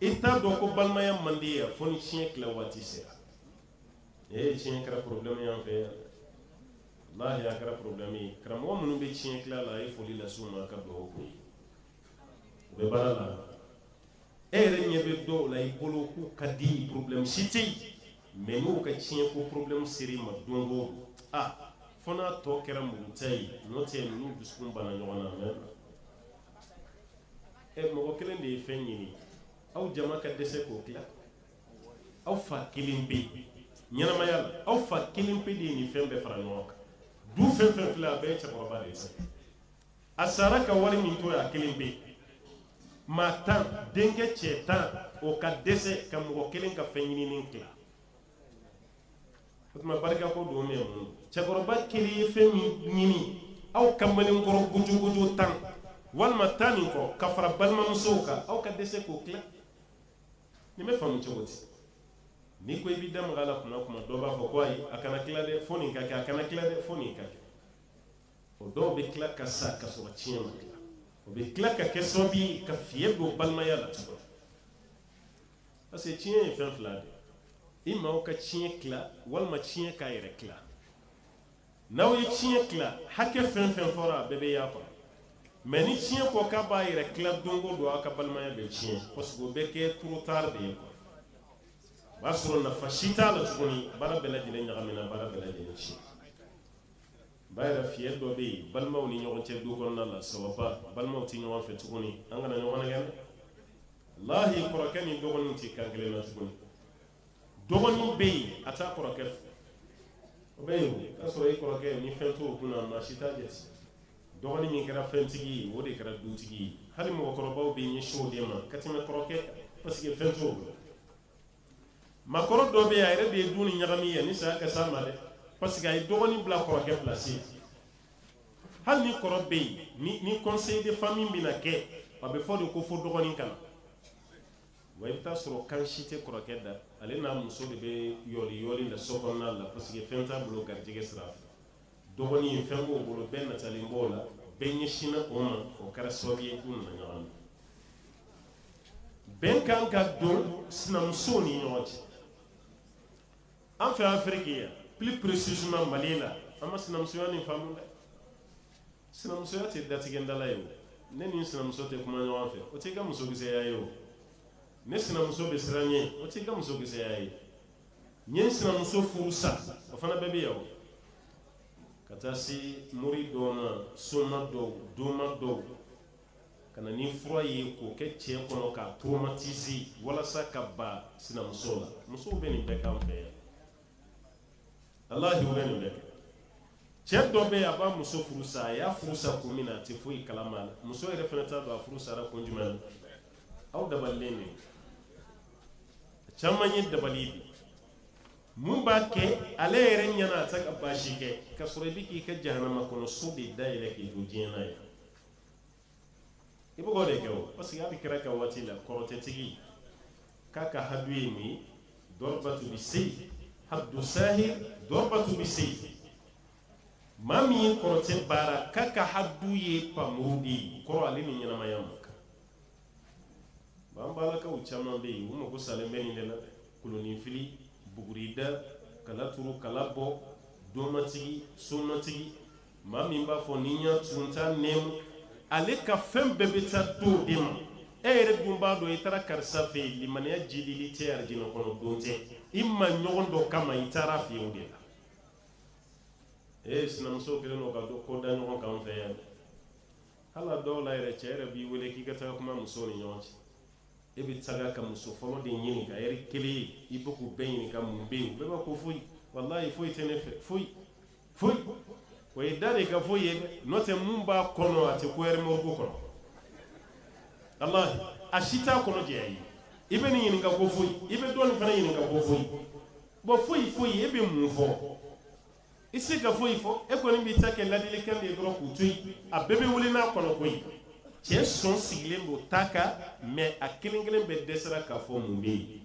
I t'a dɔn ko balimaya man di yan fo ni tiɲɛ tila waati sera ee tiɲɛ kɛra problème ye an fɛ yan dɛ walahi a kɛra problème ye karamɔgɔ minnu bɛ tiɲɛ tila la a ye foli lase u ma ka dugawu k'u ye u bɛ baara la e yɛrɛ ɲɛ bɛ dɔw la i bolo k'u ka di problème si tɛ yen mais n'u ka tiɲɛ ko problème sera i ma don o don ah fo n'a tɔ kɛra muruta ye n'o tɛ ninnu dusukun banna ɲɔgɔn na mais e mɔgɔ kelen de ye fɛn ɲini aw jama ka dɛsɛ k'o tila aw fa kelenpe ɲɛnamaya la aw fa kelenpe de ye nin fɛn bɛɛ fara ɲɔgɔn kan du fɛn fɛn filɛ a bɛɛ ye cɛkɔrɔba de ye sa a sara ka wari min to yen a kelenpe maa tan denkɛ cɛ tan o ka dɛsɛ ka mɔgɔ kelen ka fɛn ɲininen tila o tuma barikako don min mun cɛkɔrɔba kelen ye fɛn min ɲini aw kamalenkɔrɔ gujuguju tan walima tan ni kɔ ka fara balimamusow kan aw ka dɛsɛ k'o tila nin bɛ faamu cogo di n'i ko i b'i da maga a la kuma dɔ b'a fɔ ko ayi a kana tila dɛ fo nin ka kɛ a kana tila dɛ fo nin ka kɛ o dɔw bɛ tila ka sa ka sɔrɔ tiɲɛ ma tila o bɛ tila ka kɛ sababu ye ka fiɲɛ don balimaya la tuguni Parce que tiɲɛ ye fɛn fila de ye imma aw ka tiɲɛ tila walima tiɲɛ k'a yɛrɛ tila n'aw ye tiɲɛ tila hakɛ fɛn fɛn fɔra a bɛɛ bɛ y'a kɔnɔ mais ni tiɲɛ ko k'a b'a yɛrɛ tila don o don aw ka balimaya bɛ tiɲɛ parce que o bɛ kɛ trop tard de ye quoi o b'a sɔrɔ nafa si t'a la tuguni baara bɛɛ lajɛlen ɲagamina baara bɛɛ lajɛlen tiɲɛ Ba yɛrɛ fiɲɛ dɔ bɛ yen balimaw ni ɲɔgɔn cɛ du kɔnɔna la sabu balimaw tɛ ɲɔgɔn fɛ tuguni an kana ɲɔgɔn nɛgɛn walahi kɔrɔkɛ ni dɔgɔnin tɛ kan kelen na tuguni dɔgɔnin bɛ yen a taa kɔrɔkɛ o bɛ yen a sɔrɔ i kɔrɔkɛ ni fɛn t'o kunna na si t'a jɛ dɔgɔnin min kɛra fɛntigi o de kɛra dutigi ye hali mɔgɔkɔrɔbaw bɛ ɲɛsin o de ma ka tɛmɛ kɔrɔkɛ parce que fɛn t'o makɔrɔ dɔ bɛ a yɛrɛ de ye du nin ɲagami yanni saya ka s'a ma dɛ parce que a ye dɔgɔnin bila kɔrɔkɛ place hali ni kɔrɔ bɛ yen ni conseil de famille bɛna kɛ a bɛ fɔ de ko fo dɔgɔnin ka na wa i bɛ t'a sɔrɔ kan si tɛ kɔrɔkɛ da ale n'a muso de bɛ yoli yoli la so kɔnɔna la parce que fɛn t'a bolo garijɛgɛ sira fɛ dɔgɔnin ye fɛn k'o bolo bɛɛ natalen b'o la bɛɛ ɲɛsinna o ma o kɛra sababu ye k'u nana ɲɔgɔn na bɛn kan ka don sinamusow ni ɲɔgɔn cɛ an fɛ afiriki yan plus précisément mali la an ma sinamusoya nin faamu dɛ sinamusoya tɛ datigɛndala ye o ne ni sinamuso tɛ kuma ɲɔgɔn fɛ o t'i ka musokisɛya ye o ne sinamuso bɛ siran n ɲɛ o t'i ka musokisɛya ye n ye n sinamuso furu sa o fana bɛɛ bɛ yan o ka taa se mori dɔw ma soma dɔw doma dɔw ka na ni fura ye k'o kɛ cɛ kɔnɔ k'a traumatiser walasa k'a b'a sinamuso la musow bɛ nin bɛɛ k'an fɛ yan walahi u bɛ nin bɛɛ kɛ cɛ dɔ bɛ yen a b'a muso furu sa a y'a furu sa kun min na a tɛ foyi kalama muso yɛrɛ fana t'a dɔn a furu sara kun jumɛn aw dabalilen de caman ye dabali ye mun b'a kɛ ale yɛrɛ ɲɛna a tɛ ka baasi kɛ ka sɔrɔ i bɛ k'i ka jahanama kɔnɔ so de da yɛlɛ k'i to diɲɛ na yan i bɛ k'o de kɛ o parce que hali kira ka waati la kɔrɔtɛtigi k'a ka hadu ye nin ye dorbatu bi sayf hadu sahir dorbatu bi sayf maa min ye kɔrɔtɛ baara k'a ka hadu ye npanmuru de ye kɔrɔ ale ni ɲɛnamaya man kan B'an balakaw caman bɛ yen u mago salen bɛ nin de la dɛ koloninfili bugurida kala turu kala bɔ domatigi somatigi maa min b'a fɔ ni ɲɛ sunta nɛ ale ka fɛn bɛɛ bɛ taa d'o de ma e yɛrɛ dun b'a dɔn i taara karisa fɛ yen limaniya jiidili tɛ arijinɛ kɔnɔ don tɛ i maa ɲɔgɔn dɔ kama i taara a fɛ o de la e sinamuso kɛlen don ka dɔnko da ɲɔgɔn kan fɛ yan hal'a dɔw la yɛrɛ cɛ yɛrɛ b'i wele k'i ka taga kuma muso ni ɲɔgɔn cɛ e bɛ taga ka muso fɔlɔ de ɲininka yɛrɛ kelen i bɛ k'u bɛɛ ɲininka mun bɛ yen bɛɛ b'a ko foyi walayi foyi tɛ ne fɛ foyi foyi o ye da de ka foyi ye n'o tɛ mun b'a kɔnɔ a tɛ ko yɛrɛ mɔgɔ ko kɔnɔ ala a si t'a kɔnɔ jɛ i ye i bɛ nin ɲininka ko foyi i bɛ dɔ in fana ɲininka ko foyi bon foyi foyi e bɛ mun fɔ i tɛ se ka foyi fɔ e kɔni b'i ta kɛ ladilikan de ye dɔrɔn k'u to yen a bɛɛ bɛ wuli n'a kɔnɔko ye cɛ sɔn sigilen don ta kan mais a kelen kelen bɛɛ dɛsɛra k'a fɔ mun bɛ yen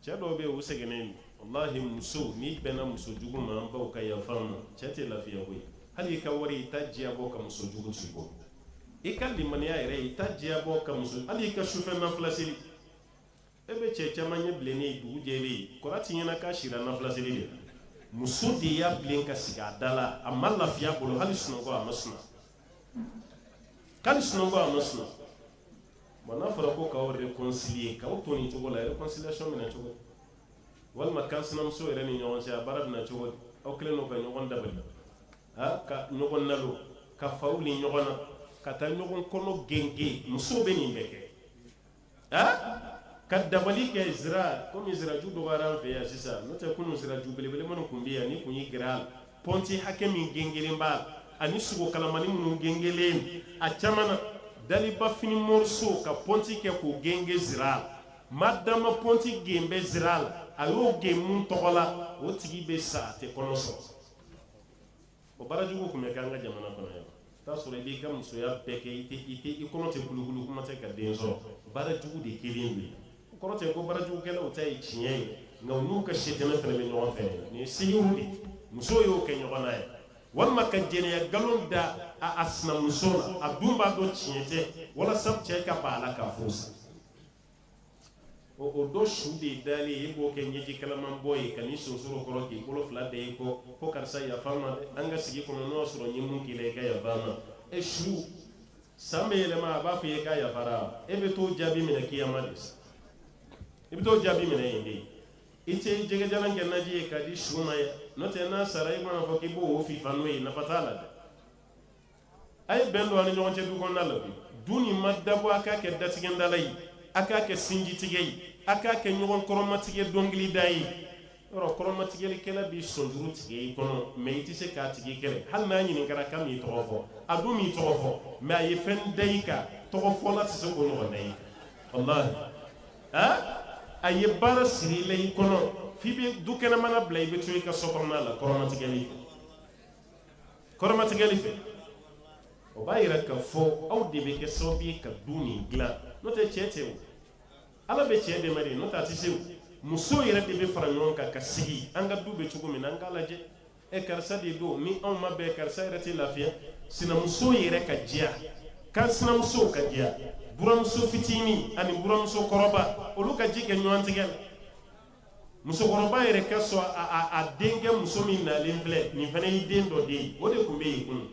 cɛ dɔw bɛ yen u sɛgɛnnen don walahi muso n'i bɛnna muso jugu ma an baw ka yaf'an ma cɛ tɛ lafiya koyi hali i ka wari i t'a diya bɔ ka muso jugu t'i bolo i ka limaniya yɛrɛ i t'a diya bɔ ka muso hali i ka sufɛ nafila seli e bɛ cɛ caman ɲɛ bilennen ye dugu jɛlen kɔrɔ tɛ ɲɛna k'a sira nafila seli de la muso de y'a bilen ka sigi a da la a ma lafiya bolo hali sunɔgɔ a ma sunɔgɔ hali sunɔgɔ a ma sunɔgɔ bon n'a fɔra ko k'aw réconcilier k'aw to nin cogo la réconciliation bɛna cogo di walima kan sinamuso yɛrɛ ni ɲɔgɔn cɛ a baara bɛna cogo di aw kɛlen don ka ɲɔgɔn dabali aa ka ɲɔgɔn nalo ka fa wuli ɲɔgɔn na ka taa ɲɔgɔn kɔnɔ gengen muso bɛ nin bɛɛ kɛ ka dabali kɛ sira komi siraju dɔgɔyara an fɛ yan sisan n'o tɛ kunun siraju belebele minnu tun bɛ yan n'i tun y'i gɛrɛ a la pɔnti hakɛ min gengelen b'a la ani sogo kalamani minnu gengelen a caman na daliba fini mɔrɔso ka pɔnti kɛ k'o genge sira la ma dama pɔnti gen bɛ sira la a y'o gen min tɔgɔ la o tigi bɛ sa a tɛ kɔnɔ sɔrɔ O baara jugu tun bɛ kɛ an ka jamana kɔnɔ yan t'a sɔrɔ i b'i ka musoya bɛɛ kɛ i kɔnɔ tɛ kulukulu kuma tɛ ka den sɔrɔ baara jugu de kɛlen bɛ yen o kɔrɔ tɛ ko baara jugukɛlaw ta ye tiɲɛ ye nka u n'u ka sitanɛ fana bɛ ɲɔgɔn fɛ nin ye segu ye musow y'o kɛ ɲɔgɔn na ye walima ka jɛnɛya nkalon da a a sinamuso la a dun b'a dɔn tiɲɛ tɛ walasa cɛ ka ban a la k'a furu sa o o dɔ su de dalen e b'o kɛ ɲɛji kalaman bɔ ye ka n'i sonsoro kɔrɔ k'i bolo fila da i kɔ ko karisa yafa n ma an ka sigi kɔnɔ n'o y'a sɔrɔ n ye mun k'i la i ka yafa n ma e su san bɛ yɛlɛma a b'a fɔ i ye k'a yafara e bɛ t'o jaabi minɛ kiyama de sa i bɛ t'o jaabi minɛ yen de i tɛ jɛgɛjalan kɛ naji ye ka di su ma ye n'o tɛ n'a sara i mana fɔ k'i b'o fifa n'o ye nafa t'a la dɛ a ye bɛn don a ni ɲɔgɔn cɛ du kɔnɔna la du nin ma dabɔ a k'a kɛ datigɛndala ye a k'a kɛ sinjitigɛ ye a k'a kɛ ɲɔgɔn kɔrɔmatigɛ dɔnkilida ye yɔrɔ kɔrɔmatigɛlikɛla b'i sɔnjuru tigɛ i kɔnɔ mɛ i tɛ se k'a tigi kɛlɛ hali n'a ɲininkara k'a m'i tɔgɔ fɔ a dun m'i tɔgɔ fɔ mɛ a ye fɛn da i kan tɔgɔ fɔla tɛ se k'o ɲɔgɔn da i kan a ye baara siri i la i kɔnɔ f'i bɛ du kɛnɛmana bila i bɛ to i ka so kɔnɔna la kɔrɔmatigɛli kɔrɔmatigɛli fɛ o b'a yira k'a fɔ aw de bɛ kɛ sababu ye ka du nin dilan n'o tɛ cɛ tɛ o ala bɛ cɛ dɛmɛ de n'o tɛ a tɛ se o muso yɛrɛ de bɛ fara ɲɔgɔn kan ka sigi an ka du bɛ cogo min na an k'a lajɛ ɛ karisa de don ni anw ma bɛn karisa yɛrɛ tɛ lafiya sinamuso yɛrɛ ka diya kan sinamusow ka diya buramuso fitinin ani buramuso kɔrɔba olu ka ji kɛ ɲɔgɔn tigɛ la musokɔrɔba yɛrɛ ka sɔn a denkɛ muso min nalen filɛ nin fana y'i den dɔ de ye o de tun bɛ yen kunun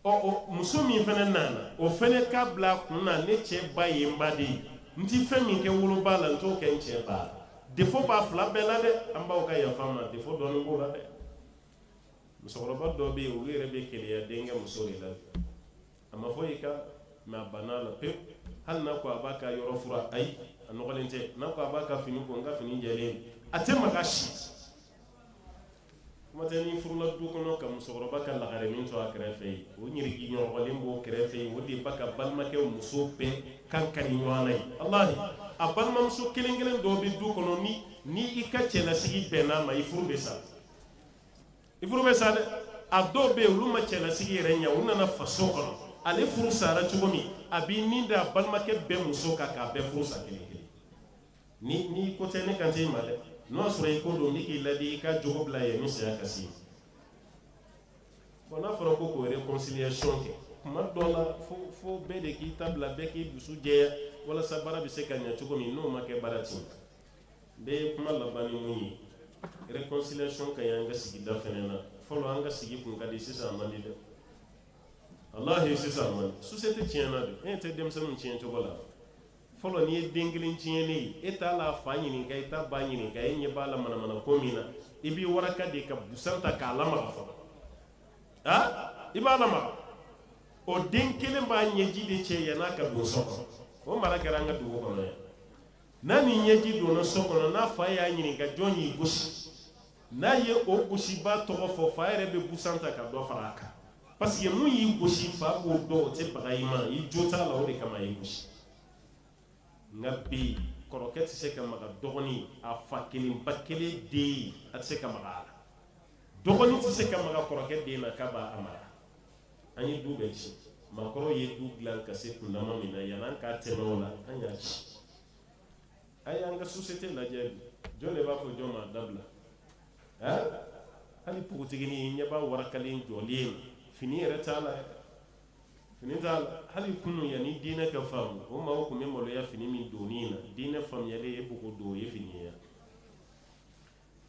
o muso min fana nana o fana ka bila a kun na ne cɛ ba ye n ba de ye n tɛ fɛn min kɛ woloba la n t'o kɛ n cɛ ba la defo b'a fila bɛɛ la dɛ an b'aw ka yafa n ma defo dɔɔnin b'o la dɛ musokɔrɔba dɔ bɛ yen olu yɛrɛ bɛ keleya denkɛ muso de la a ma fɔ i ka mɛ a banna a la pe hali n'a ko a b'a ka yɔrɔ fura ayi a nɔgɔlen tɛ n'a ko a b'a ka fini ko n ka fini jɛlen a tɛ maga si kuma tɛ n'i furula du kɔnɔ ka musokɔrɔba ka lagare min to a kɛrɛfɛ ye o ɲiriki nɔgɔlen b'o kɛrɛfɛ ye o de b'a ka balimakɛ muso bɛɛ kan kari ɲɔgɔn na ye walahi a balimamuso kelen kelen dɔ bɛ du kɔnɔ ni ni i ka cɛlasigi bɛnna a ma i furu bɛ sa i furu bɛ sa dɛ a dɔw bɛ yen olu ma cɛlasigi yɛrɛ ɲɛ u nana faso kɔnɔ ale furu sara cogo min a b'i nin da a balimakɛ bɛɛ muso kan k'a bɛɛ furu sa kelen kelen ni n'i ko tɛ ne kan tɛ i ma dɛ n'o y'a sɔrɔ i ko don ne k'i ladi i ka jogo bila yanni saya ka se i ma bon n'a fɔra ko k'o réconciliation kɛ tuma dɔ la fo bɛɛ de k'i ta bila bɛɛ k'i dusu jɛya walasa baara bɛ se ka ɲɛ cogo min n'o ma kɛ baara tɛ ɲɛ n bɛ kuma laban ni min ye réconciliation ka ɲi an ka sigida fana na fɔlɔ an ka sigi kun ka di sisan a man di dɛ walahi sisan a man di société tiɲɛna de e tɛ denmisɛnninw tiɲɛ cogo la fɔlɔ n'i ye den kelen tiɲɛlen ye e t'a la fa ɲininka i t'a ba ɲininka e ɲɛ b'a la manamana ko min na i b'i waraka de ka busan ta k'a lamaga fɔlɔ ah i b'a lamaga o den kelen b'a ɲɛji de cɛ yann'a ka don so kɔnɔ o mara kɛra an ka dugu kɔnɔ yan n'a ni ɲɛji donna so kɔnɔ n'a fa y'a ɲininka jɔn y'i gosi n'a ye o gosibaa tɔgɔ fɔ fa yɛrɛ bɛ busan ta ka dɔ fara a kan parce que mun y'i gosi fa b'o dɔn o tɛ baga i ma i jo t'a la o de kama y'i gosi nka bi kɔrɔkɛ tɛ se ka maga dɔgɔnin a fa kelen ba kelen den a tɛ se ka maga a la dɔgɔnin tɛ se ka maga kɔrɔkɛ den na k'a b'a mara an ye du bɛɛ ci maakɔrɔw ye du dilan ka se kundama min na yann'an ka tɛmɛ o la an y'a ci a y'an ka société lajɛ jɔn de b'a fɔ jɔn ma dabila hali npogotiginin ɲɛ b'a warakalen jɔlen ye fini yɛrɛ t'a la fini t'a la hali kunun yanni diinɛ ka faamu o maaw tun bɛ maloya fini min don na diinɛ faamuyalen ye ko don ye fini ye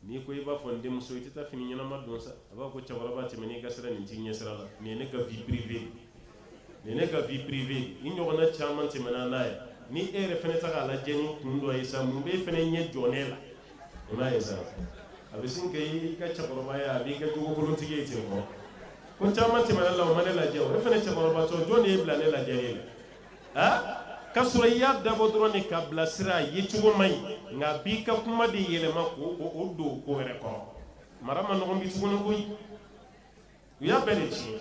N'i ko i b'a fɔ n denmuso i tɛ taa fini ɲɛnama don sa a b'a fɔ ko cɛkɔrɔba tɛmɛ n'i ka sira nin t'i ɲɛ sira la nin ye ne ka vie privée ye nin ye ne ka vie privée ye nin ɲɔgɔnna caman tɛmɛna n'a ye ni e yɛrɛ fana tɛ k'a lajɛ ni kun dɔ ye sa mun b'e fana ɲɛ jɔ ne la i m'a ye sa a bɛ sin kɛ i ka cɛkɔrɔbaya a b'i kɛ jogokolontigi ye ten ko mɔgɔ caman tɛmɛna la o ma ne lajɛ o e fana cɛkɔrɔbatɔ jɔn de y'e bila ne lajɛ la a k'a sɔrɔ i y'a dabɔ dɔrɔn de k'a bilasira a ye cogo man ɲi nka b'i ka kuma de yɛlɛma k'o don ko wɛrɛ kɔrɔ mara man nɔgɔn bi tuguni koyi u y'a bɛɛ de tiɲɛ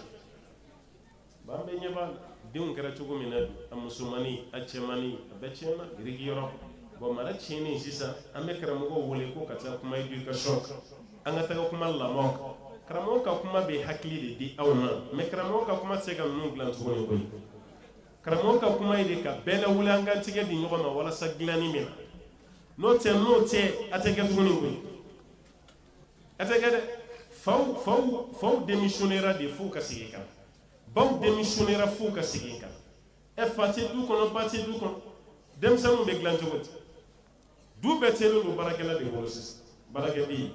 bi an bɛɛ ɲɛ b'a la denw kɛra cogo min na bi a musomannin a cɛmannin a bɛɛ tiɲɛna biriki yɔrɔ bon mara tiɲɛnen sisan an bɛ karamɔgɔw wele ko ka taa kuma éducation kan an ka taga kuma lamɔ karamɔgɔ ka kuma bɛ hakili de di aw ma mais karamɔgɔ ka kuma tɛ se ka ninnu dilan tuguni koyi karamɔgɔ ka kuma ye de ka bɛɛ lawuli an ka tigɛ di ɲɔgɔn ma walasa dilanni min na n'o tɛ n'o tɛ a tɛ kɛ tuguni koyi a tɛ kɛ dɛ faw faw faw démissionnera de fo ka segin kan baw démissionnera fo ka segin kan ɛ fa tɛ du kɔnɔ ba tɛ du kɔnɔ denmisɛnninw bɛ dilan cogo di du bɛɛ tiɲɛlen don baarakɛla de bolo sisan baarakɛden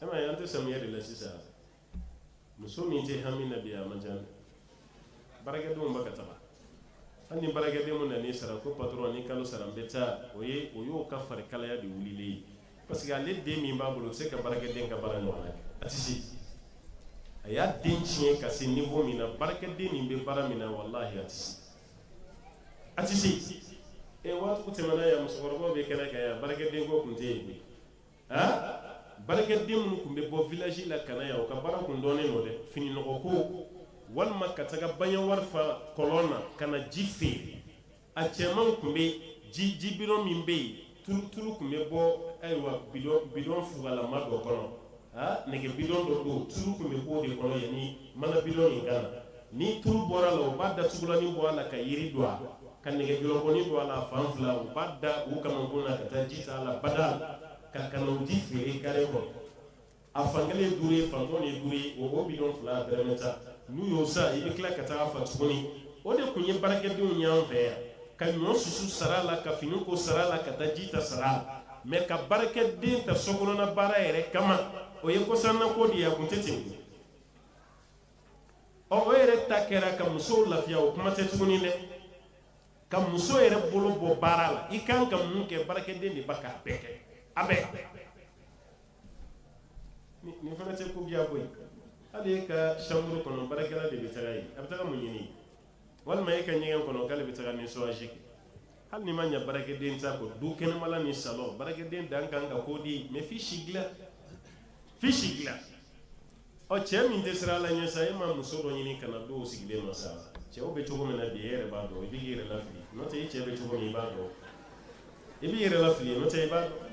e ma ye an tɛ samiya de la sisan muso min tɛ hami na bi a man ca dɛ baarakɛdenw bɛ ka taga hali ni baarakɛden min nan'i sara ko patɔrɔn ni kalo sara n bɛ taa o ye o y'o ka farikalaya de wulilen ye parce que ale den min b'a bolo o tɛ se ka baarakɛden ka baara ɲɔgɔnna kɛ a tɛ se a y'a den tiɲɛ ka se niveau min na baarakɛden min bɛ baara min na walahi a tɛ se A tɛ se ɛ waati tɛmɛna yan musokɔrɔbaw bɛ kɛnɛ kan yan baarakɛden ko tun tɛ yen koyi baarakɛden minnu tun bɛ bɔ village la ka na yan u ka baara tun dɔnnen don dɛ fini nɔgɔ ko walima ka taga baɲɛwari fa kɔlɔn na ka na ji feere a cɛmanw tun bɛ ji ji bidon min bɛ yen Tulu tun bɛ bɔ ayiwa bi bidɔn fugalama dɔ kɔnɔ nɛgɛ bidɔn dɔ don tulu tun bɛ bɔ o de kɔnɔ yanni mana bidɔn in ka na ni tulu bɔra la u b'a datugulanin bɔ a la ka yiri don a ka nɛgɛ jɔlɔkɔnin don a la fan fila u b'a da u kamankun na ka taa ji ta a la bada la ka na o ji feere kare kɔnɔ a fankelen ye duuru ye fantɔn ye duuru ye o bidɔn fila dɛrɛmɛ tan n'u y'o san i bɛ tila ka taa fa tuguni o de tun ye baarakɛdenw y'an fɛ yan ka ɲɔ susu sara la ka fini ko sara la ka taa ji ta sara la mais ka baarakɛden ta sokɔnɔna baara yɛrɛ kama o ye kɔsannako de ye a tun tɛ ten ɔ o yɛrɛ ta kɛra ka musow lafiya o kuma tɛ tuguni dɛ ka muso yɛrɛ bolo bɔ baara la i kan ka mun kɛ baarakɛden de ba k'a bɛɛ kɛ a bɛɛ nin fana tɛ ko biya koyi hali e ka chambre kɔnɔ baarakɛla de bɛ taga yen a bɛ taga mun ɲini walima e ka ɲɛgɛn kɔnɔ k'ale bɛ taga nettoyage kɛ hali ni maa ye baarakɛden ta ko du kɛnɛmala ni salon baarakɛden dan kan ka k'o di mais f'i si dilan f'i si dilan Ɔ cɛ min tɛ siran ala ɲɛ sa e ma muso dɔ ɲini ka n'a don o sigilen ma sa cɛw bɛ cogo min na bi e yɛrɛ b'a dɔn i b'i yɛrɛ lafili n'o tɛ e cɛ bɛ cogo min i b'a dɔn i b'i yɛrɛ lafili n'o tɛ i b'a dɔn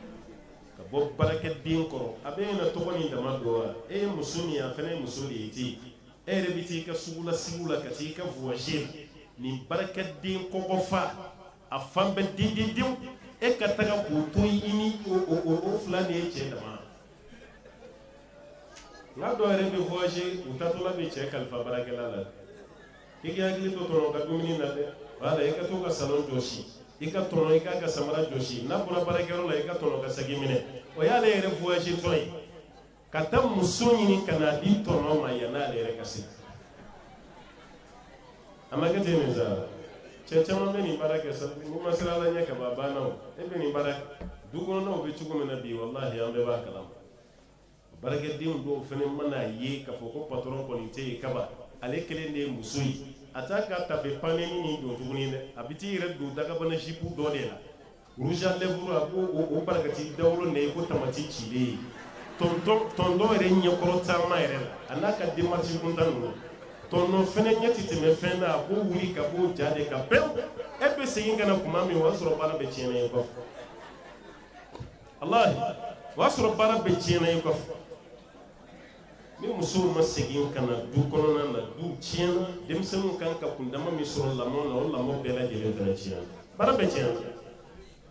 ka bɔ baarakɛden kɔrɔ a bɛ na tɔgɔ ni dama dɔn wa e ye muso min ye a fana ye muso de ye ten e yɛrɛ bɛ t'i ka sugu la sigi la ka t'i ka voyage nin baarakɛden kɔkɔfa a fan bɛɛ dendendenw e ka taga k'o to i ni o fila ni e cɛ dama nka dɔw yɛrɛ bɛ voyage u taatɔla bɛ cɛ kalifa baarakɛla la i k'i hakili to tɔnɔ ka dumuni na dɛ wala i ka to ka salon jɔsi i ka tɔnɔ i k'a ka samara jɔsi n'a bɔra baarakɛyɔrɔ la i ka tɔnɔ ka saki minɛ o y'ale yɛrɛ voyage tɔ ye ka taa muso ɲini ka n'a di tɔnɔ ma yann'ale yɛrɛ ka se a ma kɛ ten nin sa cɛ caman bɛ nin baara kɛ sa n'i ma siran ala ɲɛ ka ban a banna o e bɛ nin baara du kɔnɔnaw bɛ cogo min na bi walahi an bɛɛ b'a kalama baarakɛdenw dɔw fana mana ye k'a fɔ ko patɔrɔn kɔni tɛ yen kaba ale kelen de ye muso ye a t'a ka tafe panni ni don tuguni dɛ a bɛ t'i yɛrɛ don dagabana zipu dɔ de la Rouge à lèvres a b'o barakati dawolo na i ko tamati cilen ye tonton yɛrɛ ɲɛkɔrɔ taama yɛrɛ la a n'a ka démarche kuntan ninnu tonton fɛnɛ ɲɛ tɛ tɛmɛ fɛn na a b'o wuli ka b'o ja de kan pewu e bɛ segin ka na tuma min o y'a sɔrɔ baara bɛɛ tiɲɛna i kɔfɛ walahi o y'a sɔrɔ baara bɛɛ tiɲɛna i kɔfɛ ni musow ma segin ka na du kɔnɔna na du tiɲɛna denmisɛnninw kan ka kundama min sɔrɔ lamɔ na o lamɔ bɛɛ lajɛlen fana tiɲɛna baara bɛɛ tiɲɛna